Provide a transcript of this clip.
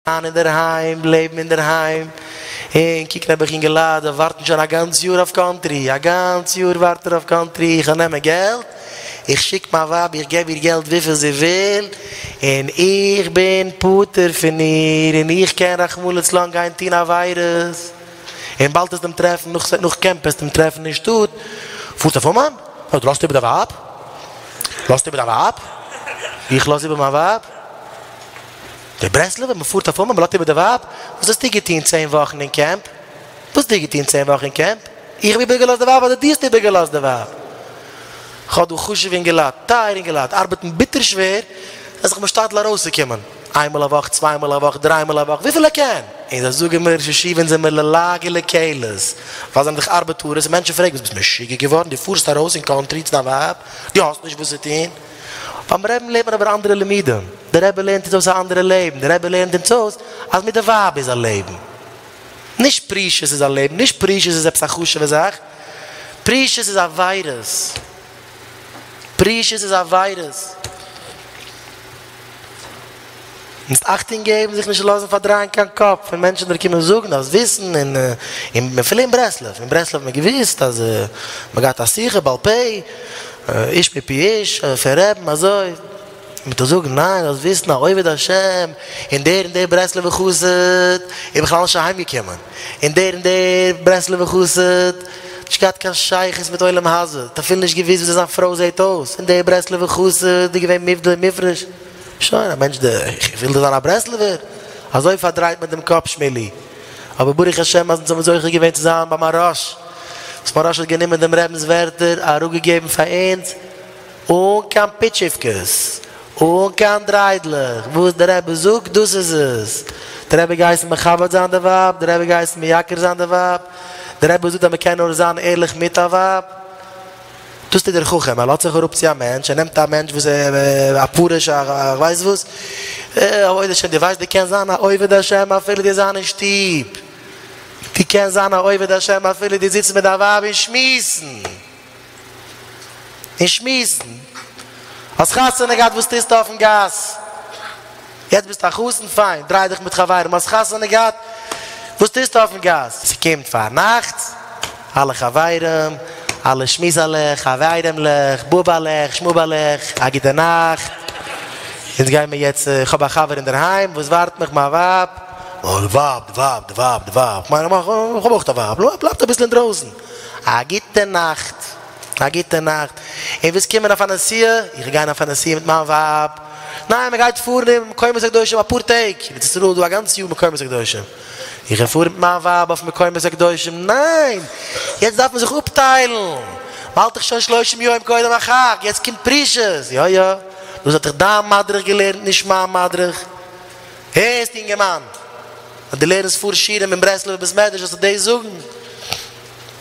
זיין אינדערהיים, לעבן אינדערהיים, און קוקן אויב איך יונגע לייט וועלן ווארטן שוין א גאנץ יאר אויף קאנטרי, א גאנץ יאר ווארט ער אויף קאנטרי, איך וועל נעמען געלט, איך שיק מיין ווייב איך געב איר געלט וויפיל זי וויל, און איך בין פטור פון איר, און איך קען רחמנא לצלן גיין טון עבירות, און באלד העסט אים טרעפן נאך נאך קעמפ העסטו אים טרעפן אין שטאט, פארסט אויף אומאן? נו דו לאזט איבער דיין ווייב? לאזט איבער דיין ווייב? איך לאז איבער מיין ווייב? דער ברסלב'ער מ'פארט אויף אומאן מ'לאזט איבער די ווייב, וואס האסטו געטון צען וואכן אין קעמפ? וואס האסטו געטון צען וואכן אין קעמפ? איך האב איבער געלאזט די ווייב אדער דו האסט איבער געלאזט די ווייב? כ'האב דא חשוב'ע אינגעלייט, טייערע אינגעלייט, ארבעטן ביטער שווער זיי זיך משתדל ארויסצוקומען, איינמאל א וואך, צוויי מאל א וואך, דריי מאל א וואך, וויפיל ער קען. און זיי זאגן מיר, ראש ישיבה אונז זעמיר ללעג לקלס, ווייל זיי זענען דאך ארבעטארעס, און מענטשן פרעגן, וואס ביסט משוגע געווארן, דו פארסט ארויס אין קאנטרי צו דיין ווייב, דו האסט נישט וואס צו טון? ביים רעבן לערנט מען אבער אנדערע לימודים, דער רבי לערנט אונז אויס א אנדערע לעבן, דער רבי לערנט אונז אויס אז מיט די ווייב איז א לעבן, נישט פרישות איז א לעבן, נישט פרישות איז עפעס א חשוב'ע זאך, פרישות איז א וויירוס, פרישות איז א וויירוס. מוזט אכטונג געבן זיך נישט לאזן פארדרייען קיין קאפ פון מענטשן דיר קומען זאגן אז וויסן און און אפילו אין ברסלב אין ברסלב האט מען געוויסט אז מען געהאט א שיחה בעל פה איש מפי איש פון רעבן אזוי מיט א זאגן ניין לאזט וויסן א עובד השם און דער און דער ברסלב'ער חסיד איז בכלל נישט אהיים געקומען און דער און דער ברסלב'ער חסיד האט נישט געהאט קיין שייכות מיט עולם הזה האט אפילו נישט געוויסט וויאזוי זיין פרוי זעהט אויס און דער ברסלב'ער חסיד איז געווען מופדל און מופרש. שוין א מענטש דער איך וויל דאך זיין א ברסלב'ער, אזוי פארדרייט מען דעם קאפ שמילי, אבער ברוך השם אז אונז האבן זוכה געווען צו זיין ביי מהראש, וואס מהראש האט גענומען דעם רבינ'ס ווערטער אראפגעגעבן פאר אונז אן קיין פיטשיווקעס, אן קיין דריידלעך, וואס דער רבי זאגט דאס איז עס, דער רבי האט געהייסן מכבד זיין די ווייב, דער רבי האט געהייסן מייקר זיין די ווייב, דער רבי האט געזאגט אז מען קען נאר זיין ערליך מיט א ווייב, דאס טוט דער חכם, ער לאזט זיך אראפ צו א מענטש, ער נעמט א מענטש וואס איז א פרוש א כ'ווייס וואס, אוי השם, דו ווייסט דו קענסט זיין א עובד השם אפילו דו זיין אין שטוב, דו קענסט זיין א עובד השם אפילו דו זיצט מיט דיין ווייב און שמועסן, און שמועסן, האסט חתונה געהאט וואס טוסטו אויפן גאס? יעצט ביסטו א חתן, פיין, דריי דיך מיט חברים, האסט חתונה געהאט, וואס טוסטו אויפן גאס? ס'קומט פאר נאכטס, אלע חברים, אלע שמועסעלעך, חבירים'לעך, באבעלעך, שמאבעלעך, א גוטע נאכט, אונז גיימער יעצט, כ'האב א חבר אינדערהיים וואס ווארט מיך, מיין ווייב, אה, די ווייב, די ווייב, די ווייב, די ווייב, כ'מיין, כ'האב אויך א ווייב, נו, בלייבט אביסל אינדרויסן, א גוטע נאכט. א גוטע נאכט, און ווילסט קומען אויף א נסיעה? איך וויל גיין אויף א נסיעה מיט מיין ווייב. ניין, מען גייט פארן אין מקומות הקדושים אפאר טעג, ארץ ישראל איז דא א גאנץ יאר מקומות הקדושים. איך וויל פארן מיט מיין ווייב אויף מקומות הקדושים. ניין! יעצט דארף מען זיך אפטיילן, מען האלט דאך שוין שלושים יום קודם החג, יעצט קומט פרישות. יא יא, דאס האט דיך דיין מדריך געלערנט, נישט מיין מדריך. הערסט יונגערמאן, אז דו לערנסט פאר שיעורים אין ברסלב'ער בית מדרש זאלסטו דאס זאגן.